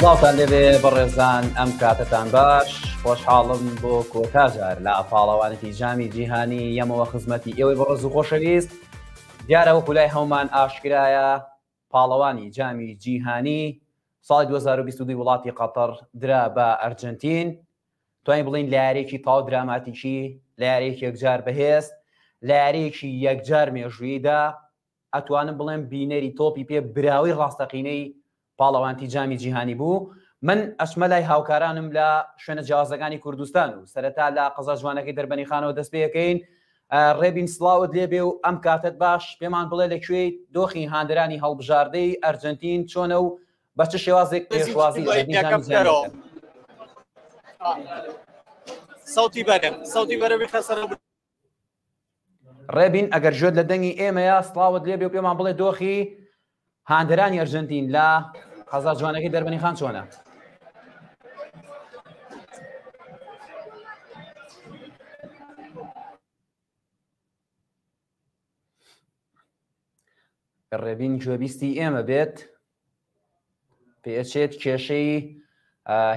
سڵاوتان لێبێ بەڕێزان ئەم کاتتان باش خۆشحاڵم بۆ کۆتاجار لە پاڵەوانێتی جامی جیهانی یەمەوە خزمەتی ئێوەی بەڕز و خۆشەویست دیارە وەکو لای هەومان ئاشکرایە پاڵەوانی جامی جیهانی ساڵی دوو هەزار و بیست و دوو وڵاتی قەتەڕ درا بە ئەرجەنتین، توانین بڵێین لە یاریەکی تاو دراماتیکی لە یاریەکی یەکجار بەهێز لە یاریەکی یەکجار مێژوویدا ئەتوانم بڵێم بینەری تۆپی پێ براوی ڕاستەقینەی پاڵەوانتی جامی جیهانی بوو من ئەشمە لای هاوکارانم لە شوێنە جیازەکانی کوردستان و سەرەتا لە قەزا جوانەکەی دەربەنی خانەوە دەست پێەکەین ڕێبین سڵاوت لێبێ و ئەم کاتەت باش، پێمان بڵێ لە کوێیت، دۆخی هاندەرانی هەڵبژاردەی ئەرجەنتین چۆنە و بە چ شێوازێک پێشوازی لە بەرنیزامی زیان دەکەن؟ سەوتی بەرم سەوتی بەرە بخە سەر ڕێبین ئەگەر ژێت لە دەنگی ئێمەیە سڵاوت لێبێ و پێمان بڵێ دۆخی هاندەرانی ئەرژەنتین لە قەزا جوانەکەی دەربەنی خان چۆنە؟ ڕێبین گوێبیستی ئێمە بێت پێچێت کێشەی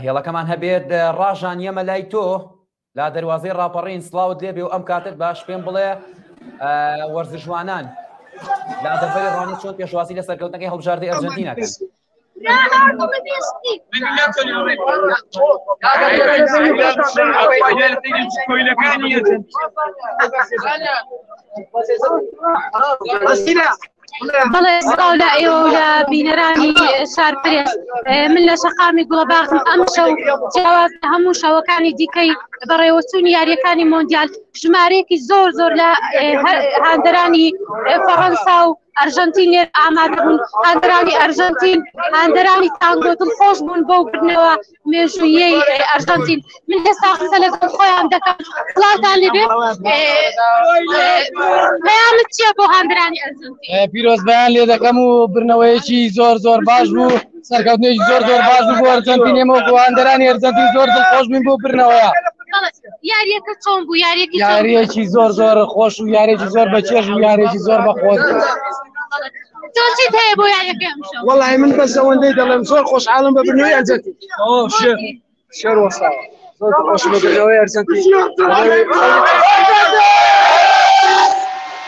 هێڵەکەمان هەبێت ڕاژان یەمە لای تۆ لە دەروازەی ڕاپەڕین سلااوت لێ بێ و ئەم کاتت باش پێم بڵێ وەرزشوانان لە دەفەری ڕۆنی چۆن پێشوازی لە سەرکەوتنەکەی هەڵبژاردی ئەرجنتینەکە کۆیلەکانی بەڵێ سڵاو لە ئێوە و لە بینەرانی شار پرێس من لە شەقامی گوڵەباخم ئەم شەو جیاواز لە هەموو شەوەکانی دیکەی بەڕێوەچوونی یاریەکانی مۆندیال ژمارەیەکی زۆر زۆر لە هاندەرانی فەڕەنسا و ئەرژەنتین لێر ئامادە بوون هاندەرانی ئەرژەنتین هاندەرانی تانگۆ دڵخۆش بوون بەو بردنەوە مێژوویەی ئەرژەنتین من ئێستا قسە لەگەڵ خۆیان دەکەم سڵاوتان لێ بێت پەیامت چییە بۆ هاندرانی ئەرژەنتین پیرۆزبیان لێ دەکەم و برنەوەیەکی زۆر زۆر باش بوو سەرکەوتنێکی زۆر زۆر باش بوو بۆ ئەرژەنتین ئێمە بۆ هاندرانی ئەرژەنتین زۆر دڵخۆش بووین بۆ برنەوەیە یاریەکە چۆن بوو یاریەکی یاریەکی زۆر زۆر خۆش و یاریێکی زۆر بە چێژ و یاریێکی زۆر بە خۆش وڵی من بەس ئەوەندەی دەڵێم زۆر خۆش عاالم بە بنەوەی ئەجەتی شێر وەسا زۆر خۆش بەەوەی ئەرجەنتی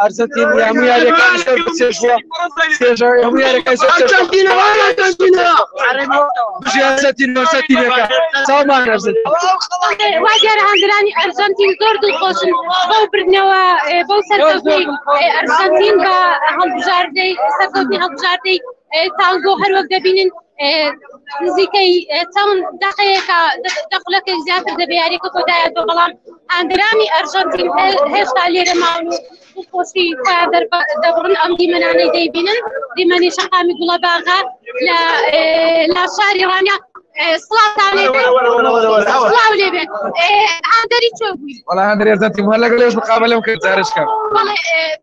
ئەرجەنتین هەموو یاریەکانی سەر بچێژوە چێژە هەموو یاریەکانی سەر ئەرجەنتینە وای ئەرجەنتینە بژی ئەرجەنتین ئەرجەنتینەکە چاومان ئەرجەنتین وا دیارە هاندرانی ئەرجەنتین زۆر دڵخۆشن بەو بردنەوە بەو سەرکەوتەی ئەرجەنتین بە هەڵبژاردەی سەرکەوتنی هەڵبژاردەی تانگۆ هەروەک دەبینن نزیکەی چەند دەقەیەکە دە خولەکەی زیاتر دەبێ یاریەکە کۆتایەوە بەڵام ئاندرامی ئەرژەنتین هێشتا لێرە ماون و خۆشی خۆیان دەبڕن ئەم دیمەنانەی دەیبینن دیمەنی شەقامی گوڵە باغا لە لا شاری ڕانیا سڵاو لێ بێت هەندەری چۆ بووی وڵا هەندری ئەرژەنتین هەر لەگەڵ لێش بقابە لەم کرد جارشکە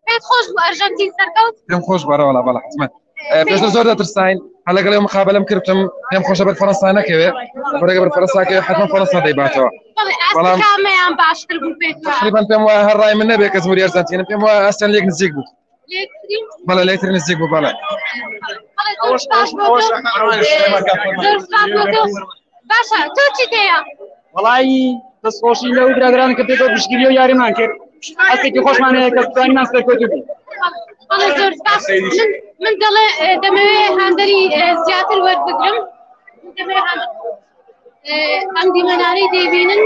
پێت خۆش بوو ئەرژەنتین سەرکەوت پێم خۆش بەرەوەڵا بەڵ حزمەت پێشتر زۆر دەترساین هە لەگەڵ ئێوە مقابلەم کردم پێم خۆشە بەر فەرەنسا نەکەوێت بەرەگە بەر فەرەنساکە حتمما فەرەنسا دەیباتەوە بەڵام کامیان باشتر بوو پێت وایە؟ تقریبا پێم وایە هەر ڕای من نەبێت کە زموری ئەرجەنتینە پێم وایە ئەسەن لێک نزیک بوو لێکترین؟ بەڵێ لێکتر نزیک بوو بەڵێ بەڵێ، زۆر سوپاس بۆ دڵ- زۆر سوپاس بۆ دڵ- باشە تۆ چیت هەیە؟ وەڵایی دەستخۆشی لەو برادران کە پێکەوە پشتگیری و یاریمان کرد هەستێکی خۆشمان هەیە کە بتوانینان سەرکەوتوو بین بەڵێ زۆر سپاس من من دەڵێ اه، دەمەوێ هاندەری اه، زیاتر وەربگرم دەمەوێ هاندەر اه، ئەم دیمەنانەی دەیبینن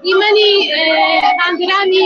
دیمەنی اه، هاندەرانی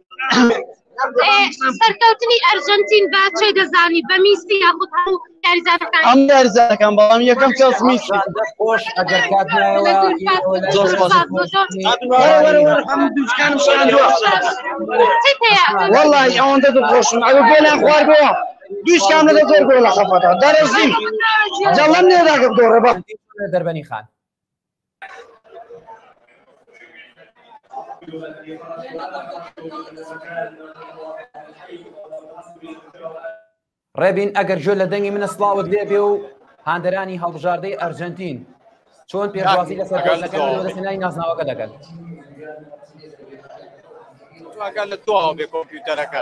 سەرکەوتنی ئەرجەنتین با چێ دەزانی بە میسی یاخود هەموو یاریزانەکان ئەم یاریزانەکان بەڵام یەکەم کەس میسی خۆش ئەگەر کات وڵی ئەوەندە دڵخۆشم ئەوە گۆلیان خوار بووە دویش کام لەگە زۆر گۆ لە خەفەتە دەرەزیم جەڵم نێداگە دۆڕە بە دەربەنی خان ڕێبین ئەگەر جۆ لە دەنگی منە سلااوت لێ بێ و هاندەرانی هەڵبژاردەی ئەرجنتین چۆن پێوازی لەسەرنای نازناوەکە دەگەن ئەگەر لە تۆ بێ کۆمپیوتەرەکە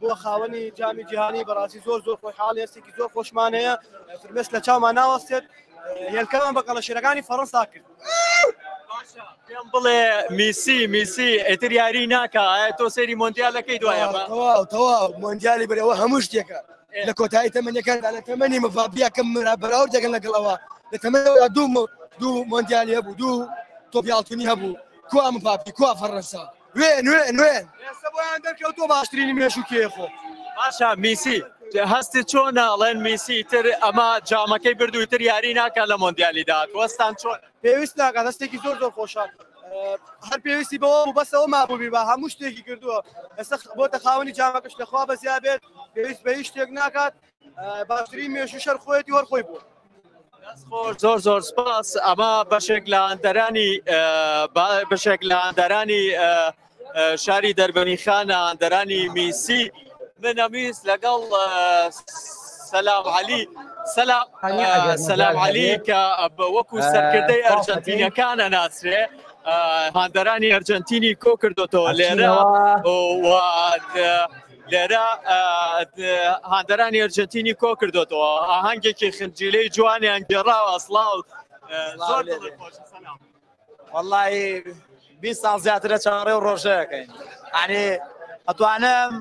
بۆ خاوەنی جامی جیهانی بەڕاستی زۆر زۆر خۆی حاڵ هێستێکی زۆر خۆشمان هەیە فرمێش لە چامان ناوەستێت هێلکەمان بە کەڵەشێرەکانی فەڕەنسا کرد پێم بڵێ میسی میسی ئەتر یاری ناکە تۆ سەری مۆندیالەکەی دوایە تەواو تەواو مۆندیالی بەرەوە هەموو شتێکە لە کۆتایی تەمەنەکان لە تەمەنی مڤابیەکەم مرا بەراو دەگەن لەگەڵەوە لە تەمەەوە دوو دوو مۆندیالی هەبوو دوو تۆپیاڵتونی هەبوو کوا مڤاپی کوا فەڕەنسا وێن وێن وێن ئێستا بۆیان دەرکەوتووە باشترینی مێژوو کێیە خۆ باشە میسی هەستی چۆن ئەڵێن میسی تر ئەمە جامەکەی بردووی تر یاری ناکە لە مۆندیالی داات وەستان چۆن پێویست ناکە دەستێکی زۆر زۆر خۆشە هەر پێویستی بەوە و بەسەوە مابووبی بە هەموو شتێکی کردووە ئێستا بۆتە خاوەنی جامەکەش لەخوا بەزیا بێت پێویست بە هیچ شتێک ناکات باشترین مێژوو شەر خۆیەتی وەر خۆی بوو زۆر زۆر سپاس ئەمە بەشێک لە ئەندەرانی بەشێک لە ئەندەرانی شاری دەربەنی خانە ئەندەرانی میسی من ئەمیست لەگەڵ سەلام علی سەلام سەلام علی کە وەکو سەرکردەی ئەرجەنتینەکانە ناسرێ هاندەرانی ئەرجەنتینی کۆ کردوەوە لێرە لێرە هاندەرانی ئەرجەنتینی کۆ کردوێتەوە ئاهەنگێکی خنجیلەی جوانیان گێڕاوە ئەسڵاو زۆر وەڵی بی ساڵ زیاترە چاڕێ و ڕۆژەکەین ئەنی ئەتوانم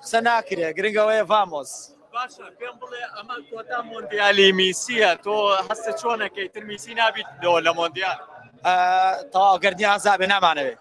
قسە ناکرێ گرنگەوەیە ڤامۆس باشە پێم بڵێ ئەمە کۆتا مۆندیالی میسیە تۆ هەستە چۆنەکەی تر میسی نابیت لەوە لە مۆندیال تەواو گردنی ئازابێ نامانەوێت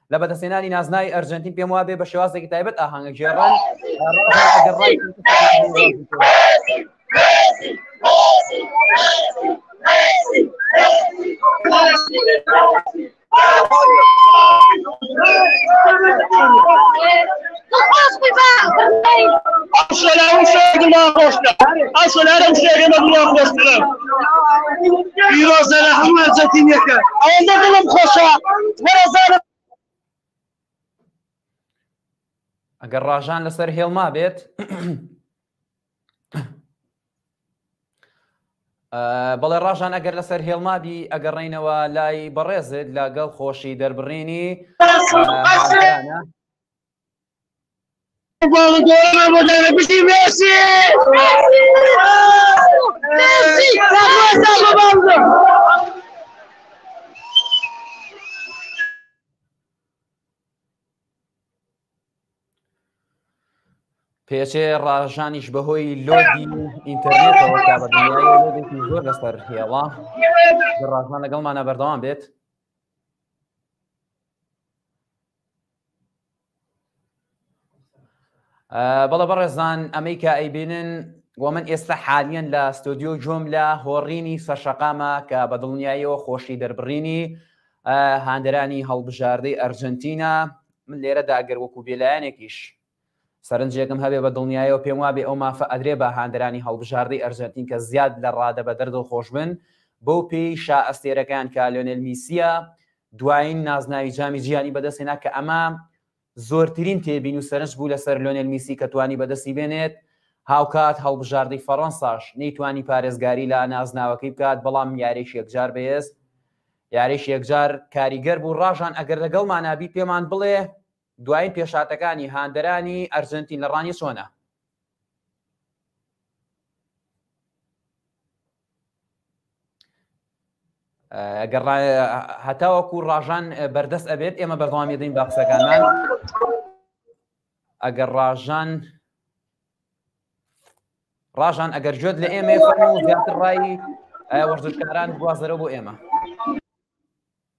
لە بەدەستێنانی نازناوی ئەرجەنتین پێم وابێ بە شێوازێکی تایبەت ئاهانگە گێڕان ئەگەر ڕژان لەسەر هێڵما بێت بەڵێ ڕژان ئەگەر لەسەر هێڵمابی ئەگەڕینەوە لای بەڕێزت لاگەڵ خۆشی دەربڕینی پێچێ ڕژانیش بەهۆی لۆدی ئینتەرنێتەوە تا بە لۆدێکی زۆر لەسەر هێڵا ڕژان لەگەڵمانە بەردەوام بێت بەڵە بەڕێزان ئەمەی کە ئەیبینن وە من ئێستا حالیان لە ستۆدیۆ جۆم لە هۆڕینی سەرشەقامە کە بە دڵنیاییەوە خۆشی دەربڕینی هاندەرانی هەڵبژاردەی ئەرجنتینا من لێرەدا گەر وەکو بێلایەنێکیش سەرنجێکم هەبێ بە دڵنیایەوە پێم وابێ ئەو مافە ئەدرێ بە هاندەرانی هەڵبژاردەی ئەرجەنتین کە زیاد لە ڕادەبەدەر دڵخۆش بن بەو پێیەی شا ئەستێرەکەیان کە لۆنێل میسیە دوایین نازناوی جامی جیانی بەدەست هێنا کە ئەمە زۆرترین تێبین و سەرنج بوو لەسەر لۆنێل میسی کە توانی بەدەستی بێنێت هاوکات هەڵبژاردەی فەڕەنساش نەیتوانی پارێزگاری لە نازناوەکەی بکات بەڵام یاریش یەکجار بەهێز یاریش یەکجار کاریگەر بوو ڕاژان ئەگەر لەگەڵمانابی پێمان بڵێ دوایین پێشهاتەکانی هاندەرانی ئەرجەنتین لە ڕانیە چۆنە؟ هەتاوەکو ڕژان بەردەست ئەبێت ئێمە بەردەوامی دەین باقسەکانمان ئەگەر ڕژان ڕژان ئەگەر جوێت لە ئێمە زیاتر ڕای وەرزشکاران گوازەرە بۆ ئێمە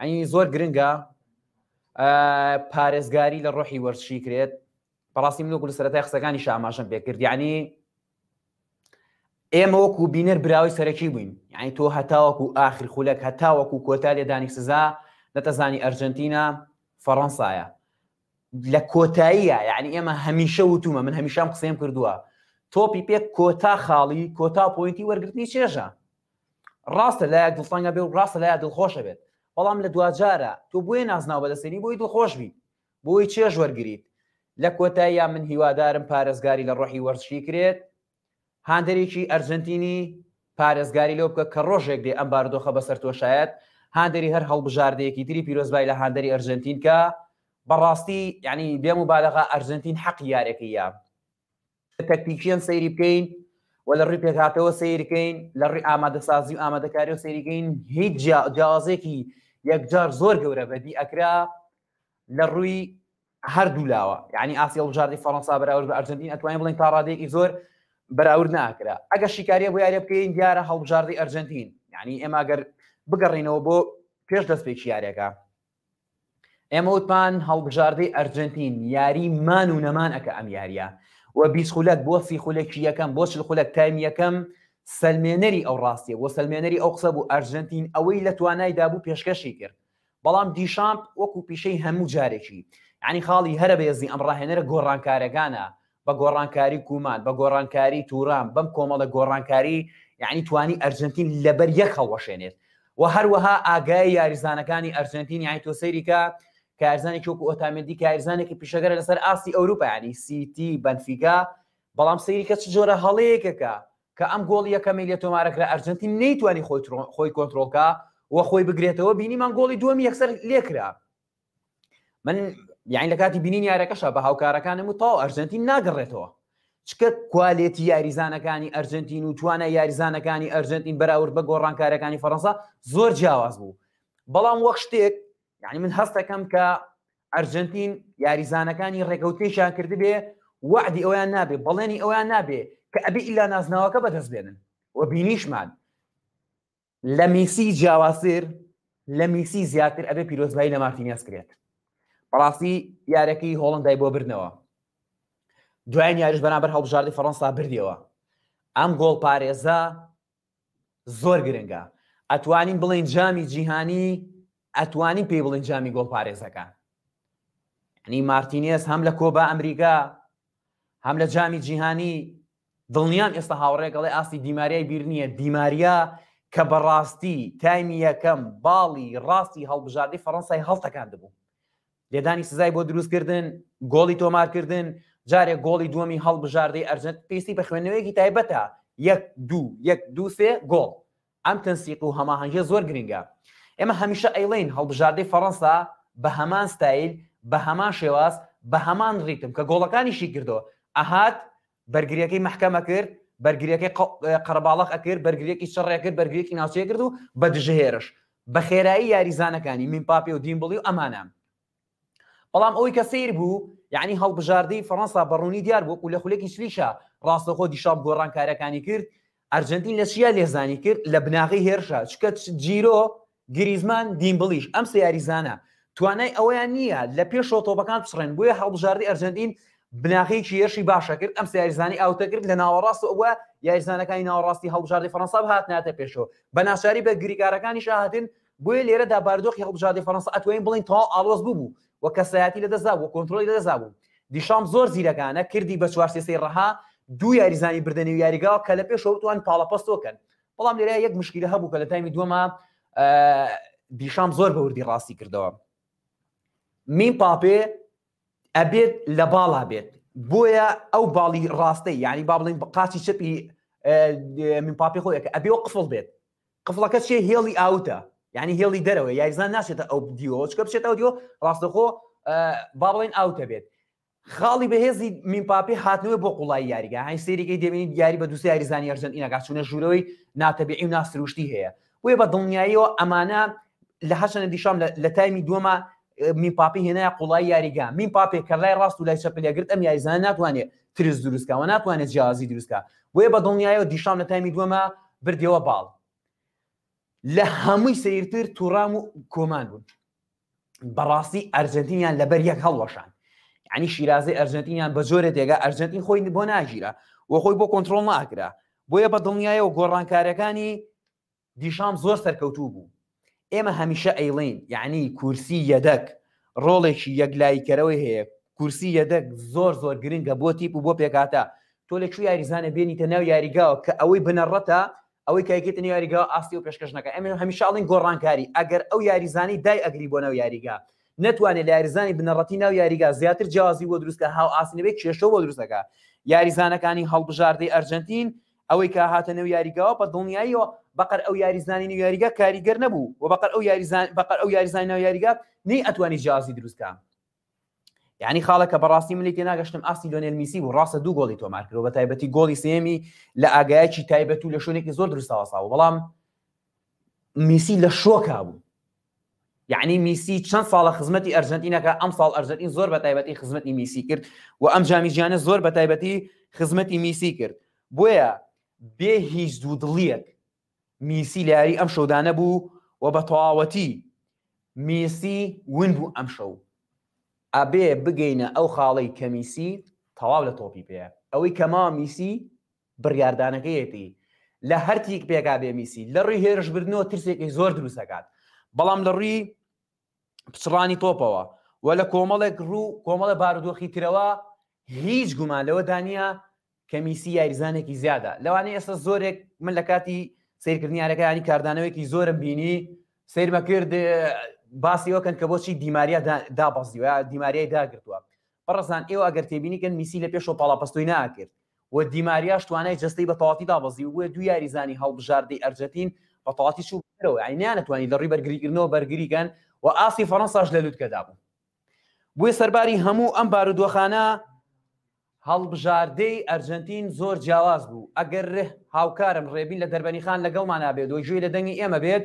ینی زۆر گرنگە پارێزگاری لە ڕۆحی وەرزشی کرێت بەڕاستی من وەکو سەرەتای قسەکانی شاماشم پێکرد یعنی ئێمە وەکو بینەر براوی سەرەکی بووین یعنی تۆ هەتاوەکو ئاخر خولەک هەتاوەکو کۆتا لێدانی سزا نەتەزانی ئەرجنتینا فەڕەنسایە لە کۆتاییە یعنی ئێمە هەمیشە وتومە من هەمیشام قسەم کردووە تۆپی پێ کۆتا خاڵی کۆتا پوینتی وەرگرتنی چێژە ڕاستە لایەک دڵتەنگە بێ و ڕاستە لایە دڵخۆشە بێت بەڵام لە دواجارە تۆ بۆیە نازناو بەدەستێنی بۆی دڵخۆش بیت بۆی چێژ وەرگیت لە کۆتاییان من هیوادارم پارێزگاری لە ڕۆحی وەرزشی کرێت هاندەرێکی ئەرجنتینی پارێزگاری لەو بکە کە ڕۆژێک دێ ئەم باردۆخە بەسەر تۆشایەت هاندەری هەر هەڵبژاردەیەکی تری پیرۆزبای لە هاندەری ئەرجنتینکە بەڕاستی یعنی بێم و بالەغا ئەرجنتین حەقی یارێکی یا تەکتیکیەن سەیری بکەین و لە ڕووی پێکهاتەوە سیرکەین لە ڕووی ئامادەسازی و ئامادەکاری و سەیریگەین هیچ جیاوازێکی یەکجار زۆر گەورە بەدی ئەکرا لە ڕووی هەردوو لاوە یعنی ئاسی هەڵبژاردی فەڕەنسا بەراورد بە ئەرجنتین ئەتوانین بڵین تا ڕادێکی زۆر بەراورد ناکرا ئەگە شیکاریە بۆ یارە بکەین دیارە هەڵبژاردی ئەرجنتین یعنی ئێماگەر بگەڕینەوە بۆ پێش دەست پێکی یارەکە ئێمە وتمان هەڵبژاردەی ئەرجنتین یاری مان و نەمان ئەکە ئەم یاریە و بیست خولەک بۆ سی خولەکی یەکەم بۆ چل خولەک تایم یەکەم سلمێنەری ئەو ڕاستیە بۆ سلمێنەری ئەو قسە بوو ئەرجنتین ئەوەی لە توانایدا بوو پێشکەشی کرد بەڵام دیشامپ وەکو پیشەی هەموو جارێکی ینی خاڵی هەرە بەێزی ئەم ڕاهێنەرە گۆڕانکارەکانە بە گۆڕانکاری کومان، بە گۆڕانکاری تورام، بەم کۆمەڵە گۆڕانکاری یانی توانی ئەرجەنتین لەبەر یەک هەڵوەشێنێت و هەروەها ئاگای یاریزانەکانی ئەرجەنتین یانی تۆ سەیریکە کارزانانی چۆک و ئۆتامێدی کارزانێکی پیشەگەرە لەسەر ئاستی ئەوروپیانی سیتی بەنفیگا بەڵام سەیریکە چ جۆرە هەڵەیەکەکە کە ئەم گۆڵ یەکەمی لە تۆمارەکرا ئەرجنتی نەیتوانی خۆی خۆی کۆنتترۆلکە و خۆی بگرێتەوە بینیمان گۆڵی دووەمی یەکسەر لێکرا من یان لە کاتی بینین یارەکەشە بە هاوکارەکانم و تاو ئەرجنتین ناگەڕێتەوە چکە کوالێتی یاریزانەکانی ئەرجنتین و توانە یاریزانەکانی ئەرجنتین بەراورد بە گۆڕانکارەکانی فەڕەنسا زۆر جیاواز بوو بەڵام وەخ شتێک یعنی من هەستەکەم کە ئەرجنتین یاریزانەکانی ڕێکەوتنیشان کردبێ وعدی ئەویان نابێ بەڵێنی ئەویان نابێ کە ئەبی ئیلا نازناوەکە بەدەست بێنن و بینیشمان لە میسی جیاوازتر لە میسی زیاتر ئەبێ پیرۆزبایی لە مارتینیاس کرێت بەڕاستی یارەکەی هۆڵندای بۆ بردنەوە دوایان یاریش بەنابەر هەڵبژاردی فەڕەنسا بردیەوە ئەم گۆڵ پارێزە زۆر گرنگە ئەتوانین بڵین جامی جیهانی ئەتوانی پێی بڵین جامی گۆڵ پارێزەکە ینی مارتینێز هەم لە کۆبا ئەمریکا هەم لە جامی جیهانی دڵنیام ئێستا هاوڕێیەک ئەڵێ ئاستی دیماریای بیر نییە، دیماریا کە بەڕاستی تایمی یەکەم باڵی ڕاستی هەڵبژاردەی فەڕەنسای هەڵتەکاندبوو، لێدانی سزای بۆ دروستکردن، گۆڵی تۆمارکردن، جارێ گۆڵی دووەمی هەڵبژاردەی ئەرجەنت پێستی بە خوێندنەوەیەکی تایبەتە، یەک دوو یەک دوو سێ گۆڵ ئەم تەنسیق و هەماهەنگیە زۆر گرنگە. ئێمە هەمیشە ئەیڵێین هەڵبژاردەی فەرەنسا بە هەمان ستایل، بە هەمان شێواز، بە هەمان ڕیتم کە گۆڵەکانی شی کردەوە، ئەهات بەرگریەکەی مەحکەم ئەکرد، بەرگریەکەی قەرەباڵەق ئەکرد، بەرگریەکی چڕ ئەکرد، بەرگریەکی ناوچەی ئەکرد و بە دژەهێرش بە خێرایی یاریزانەکانی، میمپاپێ و دیمبڵی و ئەمانە، بەڵام ئەوەی کە سەیر بوو یعنی هەڵبژاردەی فەڕەنسا بە ڕوونی دیار بوو و لە خولەکی شلیشا ڕاستەخۆ دیشاپ گۆڕانکاریەکانی کرد ئەرجەنتین لە چیا لێزانی کرد لە بناغەی هێرشە چکە جیرۆ گریزمان دیمبڵیش ئەم سە یاریزانە توانای ئەوەیان نییە لە پێشەوە تۆپەکان بچڕێن بۆیە هەڵبژاردی ئەرجەنتین بناغەیەکی یەشی باشە کرد ئەم سیارزانانی ئاوتە کرد لە ناوەڕاست ئەوە یاریزانەکانی ناوەڕاستی هەڵبژاردی فەنساب هاتناتە پێشەوە بە ناچاری بە گریکارەکانی شاهاتن بۆیە لێرەدا بارودۆخی هەڵبژاردەی فەرەنسا ئەتوانین بڵێین تەواو ئاڵۆز ببوو و کەسایەتی لەدەستدابوو و کۆنترۆڵی لەدەستدابوو. دیشام زۆر زیرەکانە کردی بە چوار سێ سێی ڕەها، دوو یاریزانی بردە نێو یاریگاوە کە لە پێشەوە بتوانن پاڵەپەستۆ بکەن. بەڵام لێرە یەک مشکیلە هەبوو کە لە تایمی دووەما دیشام زۆر بە وردی ڕاستی کردەوە. میم پاپێ ئەبێت لە باڵا بێت بۆیە ئەو باڵی ڕاستەی یعنی با بڵین قاچی چەپی من پاپی خۆیەکە ئەبێ و قفڵ بێت قفڵەکە چیە هێڵی ئاوتە یعنی هێڵی دەرەوەی یاریزان ناچێتە ئەو دیوەوە چکە بچێت ئەو دیوە ڕاستەخۆ با بڵێن ئاوتە بێت خاڵی بەهێزی میمپاپی هاتنەوە بۆ قوڵای یاریگە هاین سریەکەی دەبینیت یاری بە دووسی یاریزانی ئەرجنتینەکە چونە ژوورەوەی ناتەبیعی و ناسروشتی هەیە بۆیە بە دڵنیاییەوە ئەمانە لە هەشەنە دیشام لە تایمی دووەمە میمپاپی هێنایە قوڵایی یاریگا میمپاپێک کە لای ڕاست و لای چەپ لێگرت ئەم یاریزانە ناتوانێت ترس دروستکەوە ناتوانێت جیازی دروستکە بۆیە بە دڵنیایەوە دیشان لە تایمی دووەمە بردەوە باڵ لە هەمووی سیرتر تووڕام و کۆمان بوون بەڕاستی ئەرجنتینیان لەبەر یەک هەڵوەشان ینی شیرازی ئەرجنتینیان بە جۆرە دێگا ئەرجنتین خۆی بۆ ناگیرە و خۆی بۆ کۆنتترۆل ناکرا بۆیە بە دڵنیایەوە گۆڕانکارەکانی دیشام زۆر سەرکەوتوو بوو. ئێمە هەمیشە ئەیڵێین یەعنی کورسی یەدەک ڕۆڵێکی یەکلاییکەرەوەی هەیە، کورسی یەدەک زۆر زۆر گرنگە بۆ تیپ و بۆ پێکهاتە، تۆ لە چ یاریزانێک بێنیتە ناو یاریگاوە کە ئەوەی بنەڕەتە ئەوەی کە ئەیکەیتە نێو یاریگاوە ئاستی ئەو پێشکەش نەکا، ئێمە هەمیشە ئەڵێین گۆڕانکاری، ئەگەر ئەو یاریزانەی دایئەگری بۆ ناو یاریگا نەتوانێ لە یاریزانی بنەڕەتی ناو یاریگا زیاتر جیاوازی بۆ دروست کا هاوئاست نەبێ کێشەو بۆ دروست ئەکا، یاریزانەکانی هەڵبژاردەی ئەرجەنتین ئەوەی کە هاتە نێو یاریگاوە بە دڵنیاییەوە بەقەر ئەو یاریزانی نێو یاریگا کاریگەر نەبوو و بەقەر ئەو یاریزان بەقەر ئەو یاریزانی ناو یاریگا نەی ئەتوانی جیازی دروستکە یعنی خاڵەکە بەڕاستی ملی تێ ناگەشتم ئاستی لۆنێل میسی بوو ڕاستە دوو گۆڵی تۆمار کرد بە تایبەتی گۆڵی سێمی لە ئاگایکی تایبەت و لە شوێنێکی زۆر دروستەوەسا بوو بەڵام میسی لە شۆکا بوو یەعنی میسی چەند ساڵە خزمەتی ئەرژەنتین ئەکا ئەمساڵ ئەرژەنتین زۆر بە تایبەتی خزمەتی میسی کرد و ئەم جامی جیانە زۆر بە تایبەتی خزمەتی میسی کرد بۆیە بێ هیچ دوو دڵیەک میسی لە یاری ئەم شەودانە بوو و بە تەواوەتی میسی ون بوو ئەم شەو ئەبێ بگەینە ئەو خاڵەی کەمیسی تەواو لە تۆپی پێ ئەوەی کەما میسی بڕیاردانەکەیەتی لە هەرتیک پێکا بێ میسی لە ڕووی هێرشبردنەوە ترسێکی زۆر دروست دەکات بەڵام لە ڕووی پچڕانی تۆپەوە و لە کۆمەڵێک ڕوو کۆمەڵە بارودۆخی ترەوە هیچ گومان لەوە دانە کە میسی یاریزانێکی زیادە لەوانەیە ئێستا زۆرێک من لە کاتی سیرکردنیارەکانی کاردانەوەیکی زۆرم بینی سیرمە کرد باسی وەکەن کە بۆچی دیماریا دابەزیوە دیماریای داگرتووە بەڕزان ئێوە ئەگەر تێبینیکەن میسی لە پێشەوە پاڵاپەستۆی ناکرد و دیماریاش توانای جەستەی بە تەواوەتی دابەزی و بووە دوو یاریزانی هەڵبژاردەی ئەرجەتین بە تەواوەتی چوو بوونە دەرەوە یانی نەیانەتوانی لە ڕووی بەرگریکردنەوە بەرگری کەن و ئاستی فەرەنساش لە لوتکەدا بوو بووە سەرباری هەموو ئەم بارودۆخانە هەڵبژاردەی ئەرجەنتین زۆر جیاواز بوو ئەگەر هاوکارم ڕێبین لە دەربەنیخان لەگەڵمانا بێت و گوێی لە دەنگی ئێمە بێت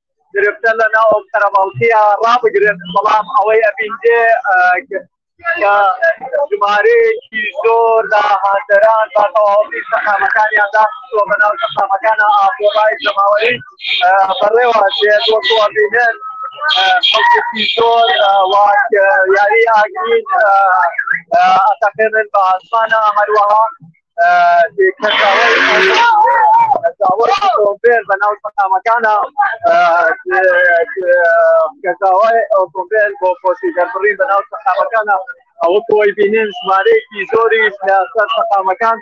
گرفتە لە ناو ئەو قەرەباڵکەیە ڕابگرن بەڵام ئەوەی ئەبیندێ ژمارەیەکی زۆر لە هاندەران بە تەواوی شەقامەکانیان داخستووە بە ناو شەقامەکانە ئاپۆڕای جەماوەری بەڕێوە دێ بۆ بووەبینن خەڵکێکی زۆر واک یاری ئاگرین ئەتەقێنن بە ئاسمانە هەروەها ئۆتۆمبێل بە ناو شەقامەکانە کەساوای ئۆتۆمبێل بۆ خۆشی دەربڕین بە ناو شەقامەکانە ئەوە کۆی بینین ژمارەیەکی زۆری سەر شەقامەکان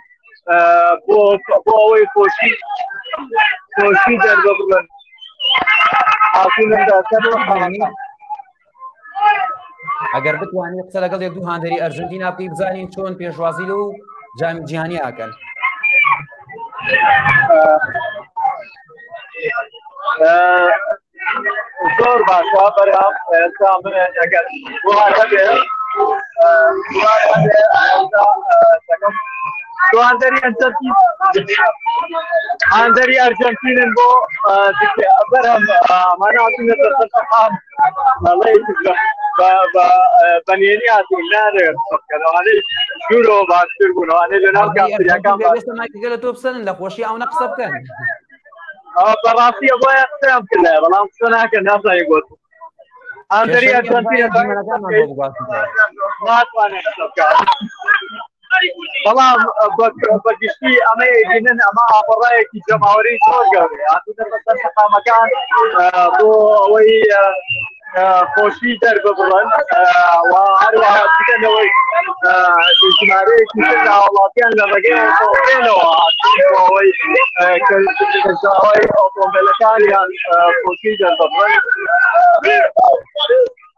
بۆ بۆ ئەوەی خۆشی خۆشی دەربڕن هاتوونە سەر شەقامەکان ئەگەر بتوانین قسە لەگەڵ یە دوو هاندەری ئەرژنتینا پێی بزانین چۆن پێشوازی و جامی جیهانی ئاکەن زۆر باشە بەرام ئێستا من ئەگەر تواندەری ئەرجەنتین هاندەری ئەرجەنتینن بۆ بەرهەم ئەماناتونەتەقام بەێنی هاتون نارێ دوورەوە باشتر بوونەوانێ لە ناو گەلە تۆ بسەن لە خۆشی ئەوە قسە بکەن بەڕاستی بۆ قسەیان بکەن بەڵام قسە ناکەن ناسای گوت ئەم دەری ئەرجەنتینە بەڵام بەگشتی ئەمە بینن ئەمە ئاپەڕایەکی جەماوەری زۆر گەورەیە قامەکان بۆ ئەوەی خۆشی دەرببڕن هەروەهاەوەی ژمارەیەکی هاوڵاتیان لە ڕێگەیەوە ئەوەی ئۆتۆمبیلەکانیان خۆشی دەربڕن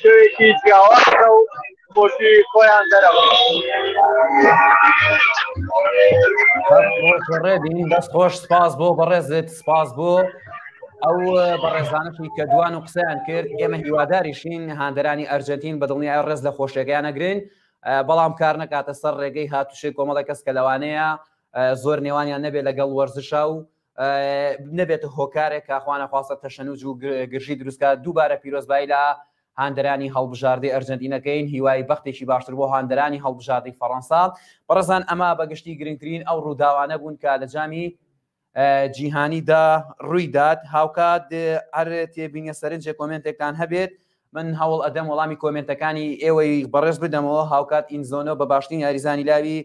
شوێکی جیاوازە و خۆشی خۆیان دەرەوە دەست خۆش سپاس بۆ بەڕێزت سپاس بۆ ئەو بەڕێزانەی کە دوان و قسەیان کرد ئێمە هیواداریشین هاندەرانی ئەرجنتین بە دڵنی ئای ڕێز لە خۆشێکیان نەگرن بەڵام کار نکاتە سەر ڕێگەی هاتوشی کۆمەڵی کەس کە لەوانەیە زۆر نێوانیان نەبێت لەگەڵ وەرزشا و نەبێتە هۆکارێک کاخوانەخواستە تەشەنوج و گرژی دروستکە دووبارە پیرۆزبایی لە هاندەرانی هەڵبژاردەی ئەرجنتینەکەین هیوای بەختێکی باشتر بۆ هاندەرانی هەڵبژاردەی فەڕەنسا بەڕزان ئەمە بەگشتی گرنگترین ئەو ڕووداوانە بوون کە لە جامی جیهانیدا ڕوویدات هاوکات هەر تێبینە سەرنجێ کۆمنتێکتان هەبێت من هەوڵ ئەدەم وەڵامی کۆمنتەکانی ئێوەی بەڕێز بدەمەوە هاوکات ئینزۆنۆ بە باشترین یاریزانی لاوی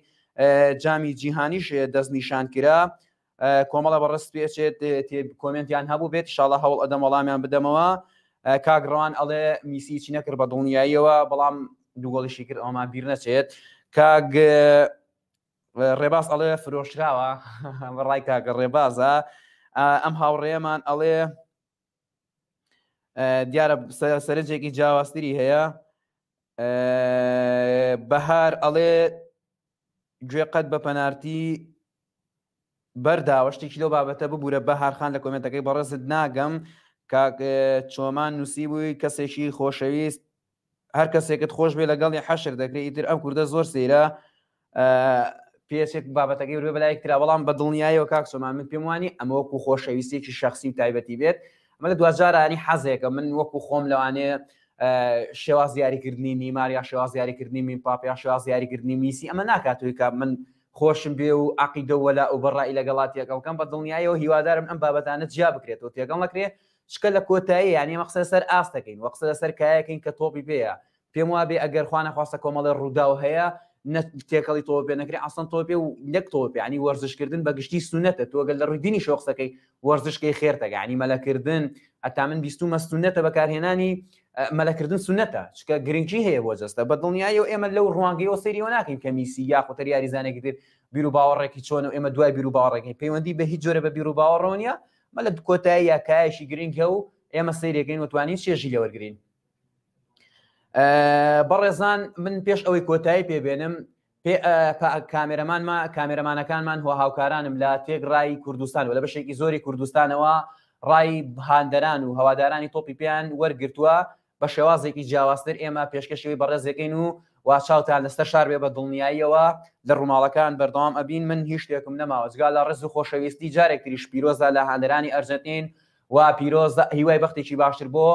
جامی جیهانیش دەستنیشان کرا کۆمەڵە بە ڕست پێچێت کۆمنتیان هەبوو بێت شاڵە هەوڵ ئەدەم وەڵامیان بدەمەوە کاک ڕەوان ئەڵێ میسیچی نەکرد بە دڵنیاییەوە بەڵام دووگۆڵیشی کرد ئەومان بیر نەچێت کاگ ڕێباز ئەڵێ فرۆشراوە ڕای کاگە ڕێبازە ئەم هاوڕێمان ئەڵێ دیارە سەرنجێکی جیاوازتری هەیە بەهار ئەڵێ گوێ قەت بە پەنارتی بەرداوە شتێکی لەو بابەتە ببوورە بە هارخان لە کۆمنتەکەی بەڕێزت ناگەم کاک چۆمان نووسی بووی کەسێکی خۆشەویست هەر کەسێکت خۆش بێ لەگەڵی حەشر دەکرێ ئیتر ئەم کوردە زۆر سەیرە پێچێک بابەتەکەی وێ بەلایەک تررا بەڵام بە دڵنیایەوە کاک سۆمان من پێم وانی ئەمە وەکو خۆشەویستێکی شخصی و تایبەتی بێت ئەمە لە دوجارانی حەزێکە من وەکو خۆم لەوانێ شێواز دیاریکردنی نیمار یا شێواز دیاریکردنی مین پاپ یا شێواز دیاریکردنی میسی ئەمە ناکاتوی کە من خۆشم بێ و عقیدەوەلا و بەڕای لەگەڵات تێکەڵکەم بە دڵنیایەوە هیوادارم ئەم بابەتانە جیا بکرێتەوە تێگەڵ نەکرێت چکە لە کۆتایی یان ئێمە قسە لەسەر ئاست دەکەین و قسە لەسەر کایە کەین کە تۆپی پێیە، پێم وابێ ئەگەر خوا نەخواستە کۆمەڵێ ڕووداو هەیە نە تێکەڵی تۆپی پێ نەکرێ ئەسڵەن تۆپی پێ و نەک تۆپی پێ یانی وەرزشکردن بە گشتی سونەتە تۆ گەل لە ڕووی دینیشەوە قسەکەی وەرزشکەی خێرتەکە یانی مەلەکردن هەتا من بیستومە سونەتە بەکارهێنانی مەلەکردن سونەتە چکە گرنگی هەیە بۆ جەستە بە دڵنیایی و ئێمە لەو ڕوانگەیەوە سەیریەوە ناکەین کە میسی یا قوتەر یاریزانێکی تر بیرو باوەڕێکی چۆن و ئێمە دوای بیرو باوەڕێکی پەیوەندی بە هیچ جۆرە بە بیرو باوەڕۆنیە مەلا کۆتاییە کایەکی گرنگ هەو ئێمە سەیرێکەین و توانین چێژی لێوەرگین بەڕێزان من پێش ئەوەی کۆتایی پێبێنم کامێرەمانما کامێرەمانەکانمان هو هاوکارانم لە تێگڕایی کوردستان و لە بەشێکی زۆری کوردستانەوە ڕای هاندەران و هەوادارانی تۆپی پێیان وەرگتووە بە شێوازێکی جیاوازتر ئێمە پێشکەشی ئەوی بەڕێز دەکەین و وا چاوتان لەسەر شار بێ بە دڵنیاییەوە لە ڕووماڵەکان بەردەوام ئەبین من هیچ شتێکم نەماوە جگا لە ڕێز و خۆشەویستی جارێک تریش پیرۆزە لە هاندەرانی ئەرجەنتین و پیرۆزە هیوای بەختێکی باشتر بۆ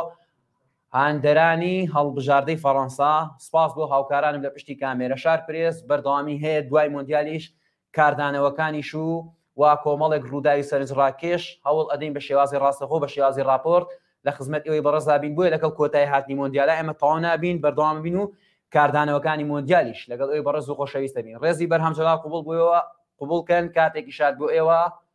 هاندەرانی هەڵبژاردەی فەڕەنسا سپاس بۆ هاوکارانم لە پشتی کامێرە شار پرێس بەردەوامی هەیە دوای مۆندیالیش کاردانەوەکانیش و وا کۆمەڵێک ڕووداوی سەرنجڕاکێش هەوڵ ئەدەین بە شێوازی ڕاستەخۆ بە شێوازی ڕاپۆرت لە خزمەت ئێوەی بەڕێزدا بین بۆیە لەگەڵ کۆتایی هاتنی مۆندیالا ئێمە تەواو نابین بەردەوام بین و کاردانەوەکانی مۆندیالیش لەگەڵ ئێوەی بەڕێز و خۆشەویست دەبین ڕێزی بەرهەم جەلال قبوڵ بۆ ئێوە قبوڵ کەن کاتێکی شاد بۆ ئێوە